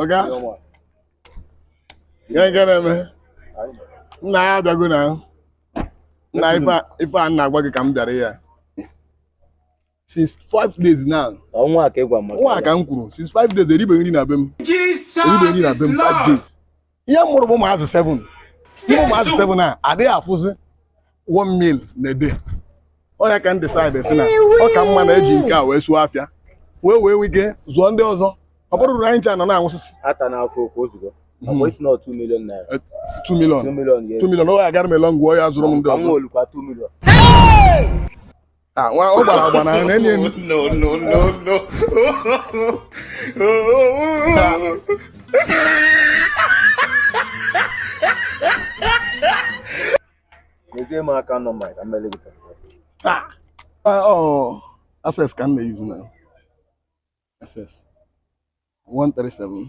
ọga kee nke na-eme nna ya abịago na nna ife a- ife a m na-agwa gị ka m bịara ya since five days now ọ nwa a ka ịgwa maka nwa ka m kwuru since five days eribeghị nri na be m eribeghị nri na be m five days ihe m mụrụ bụ ụmụazị 7 ime ụmụazị 7 a adịghị afụzi 1 meal in a day ọ ya ka m decide sị na ọ ka mma na eji nke a wee zụọ afịa wee wee nwee ike zụọ ndị ọzọ ọ bụrụ na anyị ncha nọ na-anwụsịsị ata n'afọ okwu ozugbo ọkwa ị sị na 2 million naira 2 million 2 million ya 2 million ọ ga-agara m a long way ya zụrụ m ndị ka m ọzọ nwolukwa 2 million Ah, nwa ọ gbara agba na ọ na-enyi enyi. No, no, no, no. Nyezie m account number ka m mere gị transaction. Ah, ah, oh, Access ka m na-eyuzu na Access 137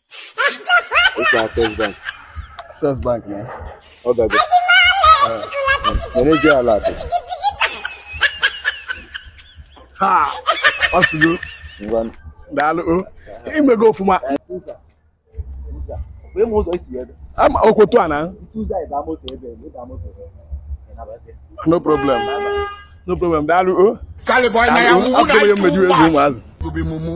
It's Access Bank. Access Bank na. Ọ gago. Neezie alert. Ha! Ọ sụgo. Ngwanụ. Daalụ o. I mego ọfụma. Okoto a na. No problem. No problem. Daalụ o. Kaliboy na ya nwụrụ na ịtụ ụgbọ. Obi mumu.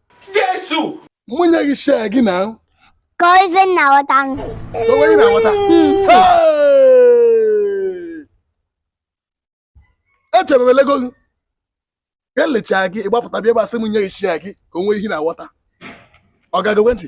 Jesu! Mụ nye gị share gị na. Ka ife nna ghọta nụ. Ka onye na-aghọta. Echebebelego gị. Ka e lechaa gị, ị gbapụta bịa gba sị m nye gị share gị ka o nwee ihe na-aghọta. Ọ gago ntị.